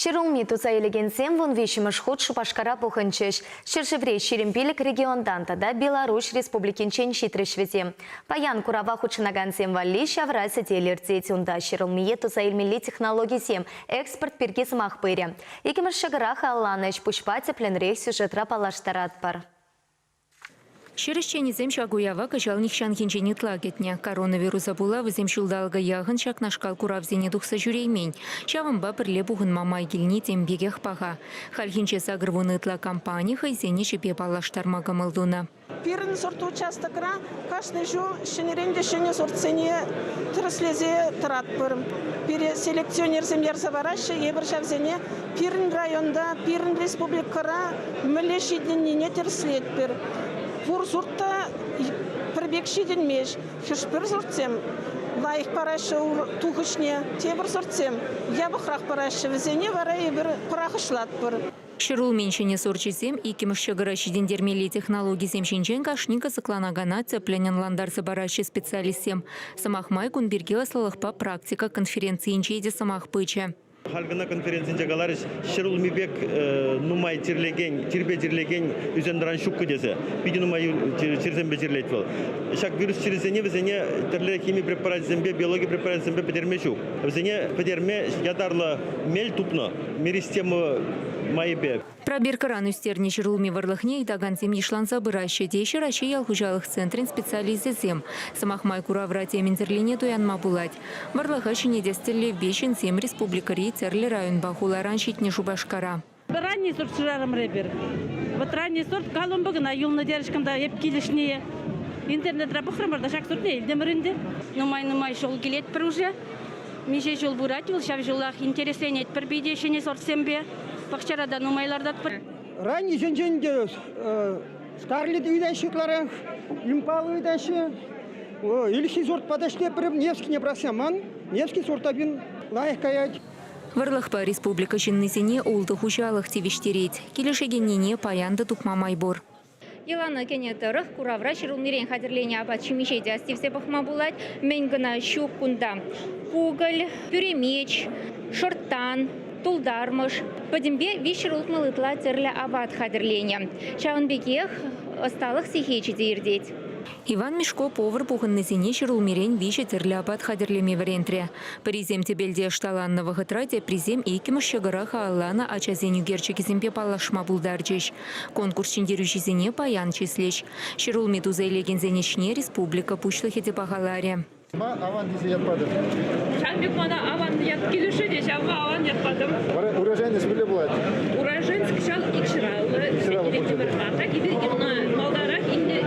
Ҫӗр улми туса илекенсем вун виҫҫӗмӗш хут Шупашкара пухӑнчӗҫ. Ҫӗршыври ҫирӗм пилӗк регионтан тата Беларуҫ Республикинчен ҫитрӗҫ вӗсем. Паян курава хутшӑнакансем валли ҫавра сӗтел иртет. Унта ҫӗр улмие туса илмелли технологисем экспорт пирки сӑмах пырӗ. Иккӗмӗш ҫӑкӑрах алланӑ ӗҫ-пуҫпа тӗплӗнрех сюжетра паллаштаратпӑр. Ҫӗр ӗҫченӗсем ҫак уява кӑҫал нихҫанхинчен ытла кӗтнӗ. Коронавируса пула вӗсем ҫулталӑка яхӑн ҫакнашкал куравсене тухса ҫӳреймен. Ҫавӑнпа пӗрле пухӑнма май килни тем пекех паха. Хальхинче сакӑр вунӑ ытла компани хӑйсен ӗҫӗпе паллаштарма кӑмӑл тунӑ. Пирӗн сорт участокра Кашни ҫул ҫӗнӗрен те ҫӗнӗ сортсене тӗрӗслесе тӑратпӑр. Пире селекционерсем ярса параҫҫӗ. Эпир ҫавсене пирӗн районта, пирӗн республикӑра мӗнле ҫитӗннине тӗрӗслетпӗр. Пур сорт та пӗр пек ҫитӗнмест. Хӗш-пӗр сортсем лайӑх параҫҫӗ тухӑҫне, тепӗр сортсем япӑхрах параҫҫӗ. Вӗсене вара эпир пӑрахӑҫлатпӑр. Ҫӗрулмин ҫӗнӗ сорчӗсем иккӗмӗш ҫӑкӑра ҫитӗнтермелли технологисем ҫинчен кашни кӑсӑкланакана тӗплӗн ӑнлантарса параҫҫӗ специалистсем. Сӑмах май, кун пирки ӑслӑлӑхпа практика конференцийӗнче те сӑмах пычӗ. Халь кӑна конференцинче каларӗҫ, ҫӗрулми пек нумай тирлекен, тирпе тирлекен ӳсентӑран ҫуккӑ тесе. Питӗ нумай чирсемпе чирлет вӑл. Ҫак вирус чирӗсене вӗсене тӗрлӗ хими препарачӗсемпе, биологи препарачӗсемпе пӗтерме ҫук. Вӗсене пӗтерме ятарлӑ мел тупнӑ. майӗпе. Пробиркӑран ӳстернӗ ҫӗр улми вӑрлӑхне ыйтакансем йышланса пыраҫҫӗ, теҫҫӗ Раҫҫей ял хуҫалӑх центрӗн специалисчӗсем. Сӑмах май, куравра темӗнсӗрлене туянма пулать. Вӑрлӑха ҫӗнетес тӗллевпе ҫынсем республикӑри тӗрлӗ районпа хуларан ҫитнӗ Шупашкара. Вӑтӑрани сорт шырарӑмӑр эпир. Вӑтӑрани сорт коломба кӑна юлнӑ терӗҫ-кӑн та эп килӗшнине интернетра пӑхрӑмӑр та ҫак сортне илтӗмӗр ӗнтӗ. Нумай-нумай ҫул килет пӗр уже. Миҫе ҫул пырать вӑл ҫав ҫулах? Интересленетпӗр питӗ ҫӗнӗ сортсемпе. Пахчара та нумай лартатпӑр. Раннисенчен те скарлет ыйтаҫҫӗ ытларах, импал ыйтаҫҫӗ. Ирхи сортпа та ӗҫлеппӗр. Невскине пӑрахсаман. Невский сорта пин лайӑх каять. Вӑрлӑхпа республика ҫыннисене ултӑ хуҫалӑх тивӗҫтерет. Килӗшекеннине паян та тупма май пур. Йӑлана кӗнӗ тӑрӑх куравра ҫӗрулмирен хатӗрленӗ апат-ҫимӗҫе те астивсе пӑхма пулать. Мӗн кӑна ҫук кунта! Пугель, пӳремеч, шӑрттан, тултармӑш, пӗтӗмпе виҫ ҫӗр утмӑл ытла тӗрлӗ апат хатӗрленӗ. Ҫавӑн пекех ӑсталӑх сехечӗ те иртет. Иван Мешко повар пухӑннисене ҫӗрулмирен виҫӗ тӗрлӗ апат хатӗрлеме вӗрентрӗ. Пӗрисем тӗпелте ӑшталаннӑ вӑхӑтра, теприсем иккӗмӗш ҫӑкӑра хаалланӑ ачасен ӳкерчӗкӗсемпе паллашма пултарчӗҫ. Конкурс ҫӗнтерӳҫисене паян чыслӗҫ. Ҫӗрулми туса илекенсен ӗҫне республика Пуҫлӑхӗ те пахаларӗ. Ма аван тесе ят патӑр? Сан пек мана аван ят килӗшӗ те ҫавӑнпа аван ят патӑм. Уроженец мӗнле пулать? Уроженец кӑҫал икҫӑраллӑ, икҫӑраллӑ пулчӗ. Атак эпир малтанрах илнӗ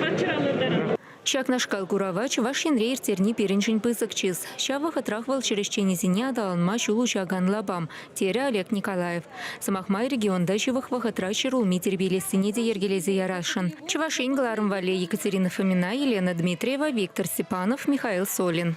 каччӑра лартарӑм. Ҫакнашкал курава Чӑваш Енре ирттерни пирӗншӗн пысӑк чыс. Ҫав вӑхӑтрах вӑл чӗрӗсченӗсене аталанма ҫул уҫакан лапам, терӗ Олег Николаев. Сӑмах май, регионта ҫывӑх вӑхӑтра ҫӗр улми тирпейлессине те йӗркелесе ярасшӑн. Чӑваш Ен кӑларӑм валли Екатерина Фомина, Елена Дмитриева, Виктор Степанов, Михаил Солин.